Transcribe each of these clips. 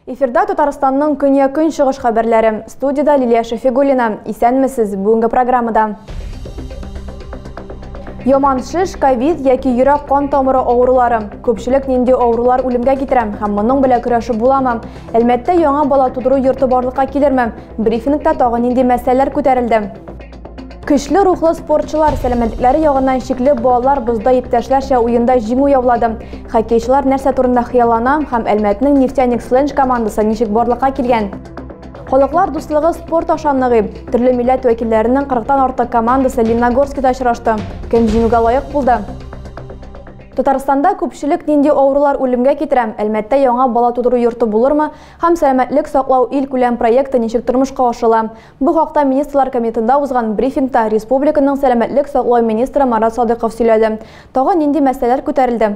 Эфирда Татарстанның көнья-көнчыгыш хәбәрләре. Студида Лилия Шәфигуллина. Исәнмесез бүгенге программада. Яман шеш, ковид яки йөрәк кан тамыры авырулары. Күпчелек нинди авырулар үлемгә китерә һәм моның белән көрәшеп буламы? Әлмәттә яңа бала тудыру йорты барлыкка килерме? Брифингта тагы нинди мәсьәләләр күтәрелде? Көчле рухлы спортчылар сәламәтлекләре ягыннан шикле балалар бозда иптәшләрчә уенда җиңү яулады. Хоккейчылар нәрсә турында хыяллана һәм Әлмәтнең Нефтяник Сленж командасы ничек барлыкка килгән? Халыклар дуслыгы спорт аша ныгый. Төрле милләт вәкилләренең 40 тан артык командасы Лениногорскида очрашты. Кем җиңүгә лаек булды? Татарстанда күпчелек нинди авырулар үлемгә китерә, Әлмәттә яңа бала тудыру йорты булырмы һәм Сәламәтлек саклау илкүләм проекты ничек тормышка ашырыла? Бу хакта Министрлар Кабинетында узган брифингта республиканың сәламәтлек саклау министры Марат Садыйков сөйләде. Тагын нинди мәсьәләләр күтәрелде?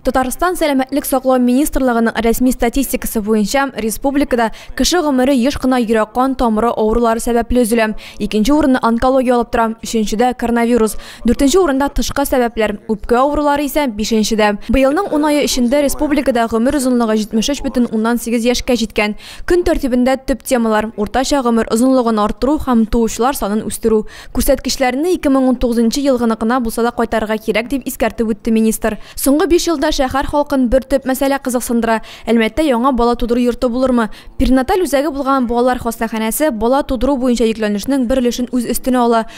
Татарстан Сәламәтлек саклау министрлыгының рәсми статистикасы буенча, республикада кеше гомере еш кына йөрәк-кан тамыры авырулары сәбәпле өзелә. Икенче урынны онкология алып тора, өченчедә, коронавирус. Дүртенче урында тышкы сәбәпләр, үпкә авырулары исә бишенчедә. Быелның ун ае эчендә республикада гомер озынлыгы 73 бөтен уннан сигез яшькә җиткән. Көн тәртибендә төп темалар, уртача гомер озынлыгын арттыру һәм туучылар санын үстерү. Күрсәткечләрне 2019 нчы елгыныкына булса да кайтарырга кирәк, дип искәртеп үтте министр. Соңгы биш елда шәһәр халкын бер төп мәсьәлә кызыксындыра, Әлмәттә яңа бала тудыру йорты булырмы? Перинаталь үзәге булган балалар хастаханәсе бала тудыру буенча йөкләнешнең бер өлешен үз өстенә ала.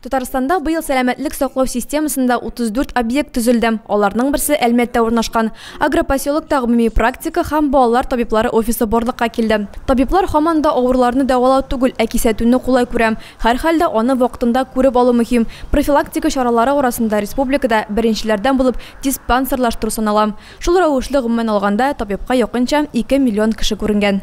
Татарстанда быел сәламәтлек саклау системасында 34 объект төзелде. Аларның берсе Әлмәттә урнашкан. Агропоселокта гомуми-практика һәм балалар табиблары офисы барлыкка килде. Табиблар һаман да авыруларны дәвалау түгел, ә кисәтүне кулай күрә. Һәрхәлдә, аны вакытында күреп алу мөһим. Профилактика чаралары арасында республикада беренчеләрдән булып диспансерлаштыру санала. Шул рәвешле, гомумән алганда, табибка якынча ике миллион кеше күренгән.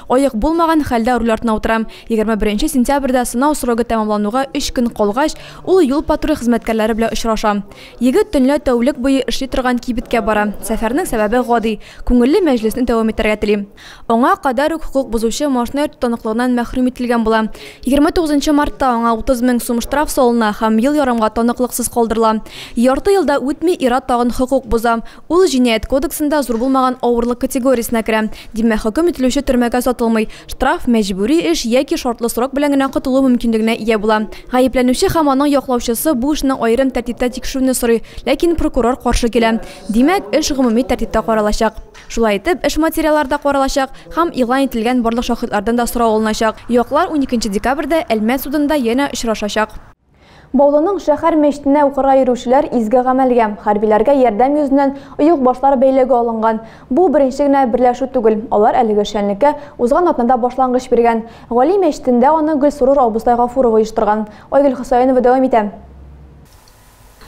Аек булмаган хәлдә руль артына утырам. Егерме беренче сентябрьдә сынау срогы тәмамлануга өч көн калгач, ул юл-патруль хезмәткәрләре белән очраша. Егет төнлә тәүлек буе эшли торган кибеткә бара. Сәфәрнең сәбәбе гади, күңелле мәҗлесне дәвам итәргә тели. Аңа кадәр үк хокук бозучы машина йөртү таныклыгыннан мәхрүм ителгән була. Егерме тугызынчы мартта аңа утыз мең сум штраф салына һәм ел ярымга таныклыксыз калдырыла. Ярты ел да үтми, ир-ат тагын хокук боза. Ул Җинаять кодексында зур булмаган авырлык категориясенә керә. Димәк, хөкем ителүче төрмәгә сатылмый, штраф, мәҗбүри эш яки шартлы срок белән генә котылу мөмкинлегенә ия була. Гаепләнүче һәм аның яклаучысы бу эшне аерым тәртиптә тикшерүне сорый, ләкин прокурор каршы килә. Димәк, эш гомуми тәртиптә каралачак. Шулай итеп, эш материаллары да каралачак һәм игълан ителгән барлык шаһитлардан да сорау алыначак. Яклар уникенче декабрьдә Әлмәт судында янә очрашачак. Баулының шәхәр мәчтенә укырга йөрүчеләр изге гамәлгә, хәрбиләргә ярдәм йөзеннән оек башлар бәйләүгә алынган. Бу беренче генә берләшү түгел, алар әлеге шәнлеккә узган атнада башлангыч биргән. Гали мәчтендә аны Гөлсорур абыстай Гафуров оештырган. Айгөл Хөсәенова дәвам итә.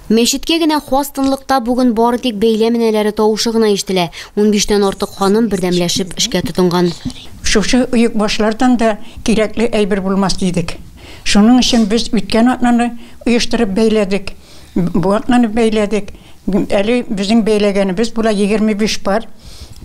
Мәчеткә генә хас тынлыкта бүген бары тик бәйләм энәләре тавышы гына ишетелә. Унбиштән артык ханым бердәмләшеп эшкә тотынган. Шушы оекбашлардан да кирәкле әйбер булмас дидек. Шуның өчен без үткән атнаны оештырып бәйләдек, бу атнаны бәйләдек. Әле безнең бәйләгәнебез була 25 пар,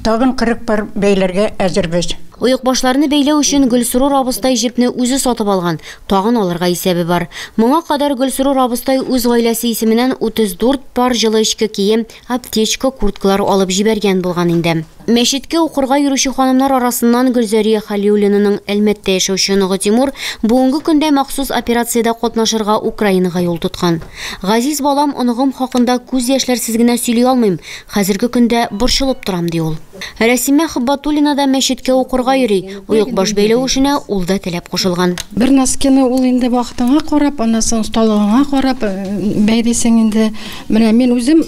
тагын 40 пар бәйләргә әзербез. Оекбашларны бәйләү өчен Гөлсорур абыстай җепне үзе сатып алган, тагын алырга исәбе бар. Моңа кадәр Гөлсорур абыстай үз гаиләсе исеменнән 34 пар җылы эчке кием, аптечка, курткалар алып җибәргән булган инде. Мәчеткә укырга йөрүче ханымнар арасыннан Гөлзәрия Халиуллинаның Әлмәттә яшәүче оныгы Тимур бүгенге көндә махсус операциядә катнашырга Украинага юл тоткан. Газиз балам, оныгым хакында күз яшьләрсез генә сөйли алмыйм, хәзерге көндә борчылып торам, ди ул. Рәсимә Хыббатуллина да мәчеткә укырга йөри, оекбаш бәйләү эшенә ул да теләп кушылган. Бер носкины ул инде вакытыңа карап, аннан соң осталыгыңа карап бәйлисең инде. Менә мин үзем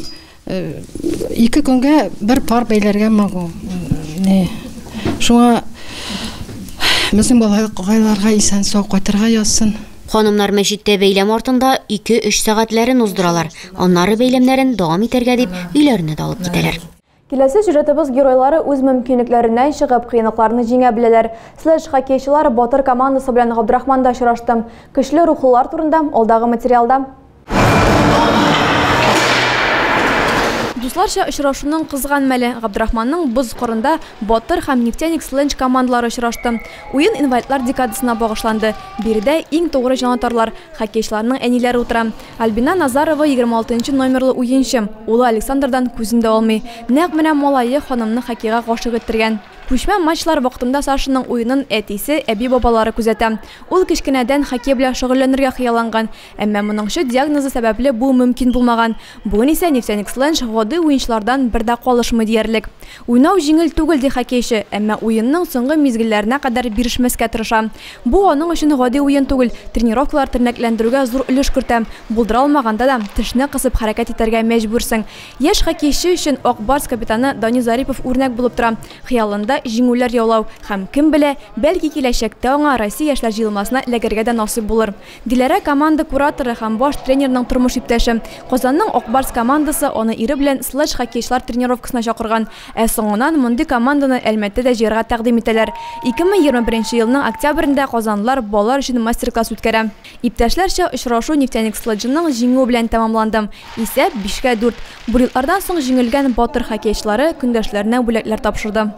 Ике көнгә бер пар бәйләргә могу. Не. Шуңа безнең балаларга исән сау кайтырга язсын. Ханымнар мәчеттә бәйләм артында 2-3 сәгатьләрен уздыралар. Аннары бәйләмнәрен дәвам итәргә дип өйләренә дә алып китәләр. Киләсе сюжетыбыз геройлары үз мөмкинлекләреннән чыгып, кыенлыкларны җиңә беләләр. Слэш хоккейчылар батыр командасы белән Габдрахманда очрашты. Көчле рухлылар турында, алдагы материалда. Дусларча очрашуның кызган мәле Габдрахманның боз кырында Батыр һәм Нефтяник Сленч командалары очрашты. Уен инвалидлар декадасына багышланды. Биредә иң тугры җанатарлар, хоккейчыларның әниләре утыра. Альбина Назарова 26 номерлы уенчы. Улы Александрдан күзен дә алмый. Нәкъ менә малае ханымны хоккейга гашыйк иттергән. Күчмә матчлар вакытында Сашаның уенын әтисе, әби-бабалары күзәтә. Ул кечкенәдән хоккей белән шөгыльләнергә хыялланган. Әмма моңчы диагнозы сәбәпле бу мөмкин булмаган. Бүген исә Нефтяниксленж гади уенчылардан бер дә калышмый диярлек. Уйнау җиңел түгел, ди хоккейчы, әмма уенның соңгы мизгелләренә кадәр бирешмәскә тырыша. Бу аның өчен гади уен түгел, тренировкалар тернәкләндерүгә зур өлеш кертә. Булдыра алмаганда да, тешне кысып хәрәкәт итәргә мәҗбүрсең. Яшь хоккейчы өчен Ак Барс капитаны Данил Зарипов үрнәк булып тора, хыялында, җиңүләр яулау һәм, кем белә, бәлки киләчәктә аңа Россия яшьләр җыелмасына эләгергә дә насыйп булыр. Диләрә, команда кураторы һәм баш тренерның тормыш иптәше. Казанның Ак Барс командасы аны ире белән Слэдж-хоккейчылар тренировкасына чакырган. Ә соңыннан мондый команданы Әлмәттәдә җыярга тәкъдим итәләр. 2021 елның октябрендә казанлылар балалар өчен мастер-класс үткәрә. Иптәшләрчә очрашу Нефтяник Слэджының җиңүе белән тәмамланды. Исәп, бишкә дүрт. Бурятлардан соң җиңелгән Батыр хоккейчылары көндәшләренә бүләкләр тапшырды.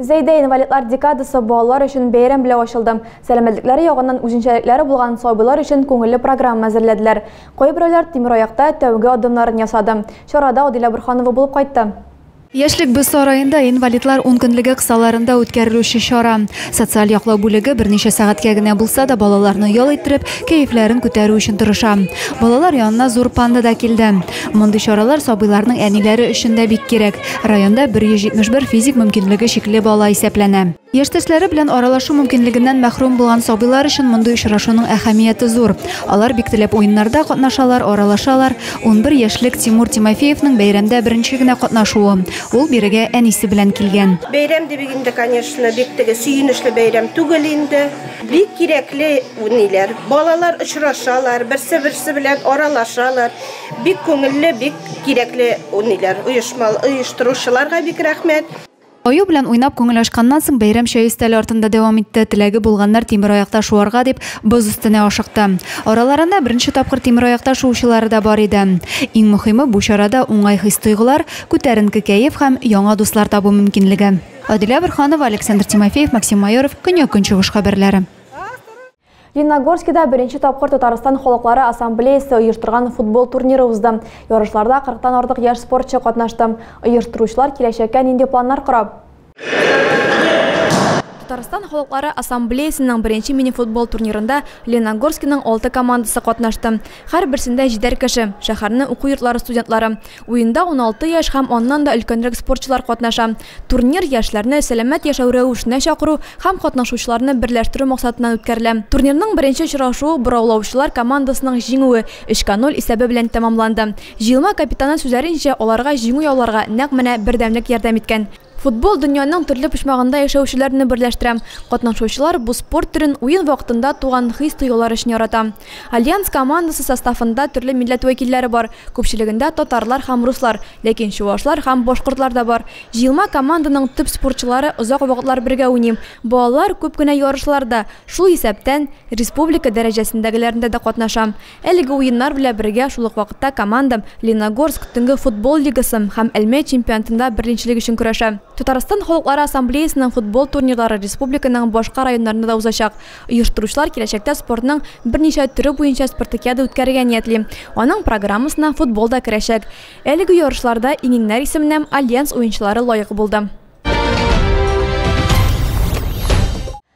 Зәйдә инвалидлар декадасы балалар өчен бәйрәм белән ачылды. Сәламәтлекләре ягыннан үзенчәлекләре булган сабыйлар өчен күңелле программа әзерләделәр. Кайберәүләр тимер аякта тәүге адымнарын ясады. Чарада Адилә Борһанова булып кайтты. Яшьлек без сараенда инвалидлар ункөнлеге кысаларында үткәрелүче чара. Социаль яклау бүлеге берничә сәгатькә генә булса да балаларны ял иттереп, кәефләрен күтәрү өчен тырыша. Балалар янына зур панда да килде. Мондый чаралар сабыйларның әниләре өчен дә бик кирәк. Районда 171 физик мөмкинлеге чикле бала исәпләнә. Яшьтәшләре белән аралашу мөмкинлегеннән мәхрүм булган сабыйлар өчен мондый очрашуның әһәмияте зур. Алар бик теләп уеннарда катнашалар, аралашалар. Унбер яшьлек Тимур Тимофеевның бәйрәмдә беренче генә катнашуы. Ул бирегә әнисе белән килгән. Бәйрәм дибек инде, конечно, бик теге сөенечле бәйрәм түгел инде. Бик кирәкле уйныйлар. Балалар очрашалар, берсе-берсе белән аралашалар. Бик күңелле, бик кирәкле униләр, оешма, оештыручыларга бик рәхмәт. Аю белән уйнап күңел ачканнан соң, бәйрәм чәй өстәле артында дәвам итте. Теләге булганнар тимер аякта шуарга дип, боз өстенә ашыкты. Араларында беренче тапкыр тимер аякта шуучылары да бар иде. Иң мөхиме, бу чарада уңай хис-тойгылар, күтәренке кәеф һәм яңа дуслар табу мөмкинлеге. Адилә Борһанова, Александр Тимофеев, Максим Майоров, Көньяк-Көнчыгыш хәбәрләре. Лениногорскида беренче тапкыр Татарстан халыклары ассамблеясы оештырган футбол турниры узды. Ярышларда 40-тан артык яшь спортчы катнашты. Оештыручылар киләчәккә нинди планнар кора? Татарстан халыклары ассамблеясының беренче мини-футбол турнирында Лениногорскиның алты командасы катнашты. Һәрберсендә җидәр кеше, шәһәрне уку йортлары студентлары. Уенда уналты яшь һәм аннан да өлкәнрәк спортчылар катнаша. Турнир яшьләрне сәламәт яшәү рәвешенә чакыру һәм катнашучыларны берләштерү максатыннан үткәрелә. Турнирның беренче очрашуы бораулаучылар командасының җиңүе, өчкә ноль исәбе белән тәмамланды. Җыелма капитаны сүзләренчә, аларга җиңү яуларга нәкъ менә бердәмлек ярдәм иткән. Футбол дөньяның төрле почмагында яшәүчеләрне берләштерә. Катнашучылар бу спорт төрен уен вакытында туган хис-тойгылар өчен ярата. Альянс командасы составында төрле милләт вәкилләре бар, күпчелегендә татарлар һәм руслар, ләкин чувашлар һәм башкортлар да бар. Җыелма команданың төп спортчылары озак вакытлар бергә уйный. Балалар күп кенә ярышларда, шул исәптән, республика дәрәҗәсендәгеләрендә дә катнаша. Әлеге уеннар белән бергә шул ук вакытта командам Лениногорск төнге футбол лигасы һәм Әлмәт чемпионатында берленчелек өчен көрәшә. Татарстан Халыклары Ассамблеясының футбол турнирлары республиканың башка районнарында да узачак. Оештыручылар киләчәктә спортның берничә төре буенча спартакиада үткәрергә ниятли. Аның программасына футбол да керәчәк. Әлеге ярышларда иңеңнәр исеменә Альянс уенчылары лаек булды.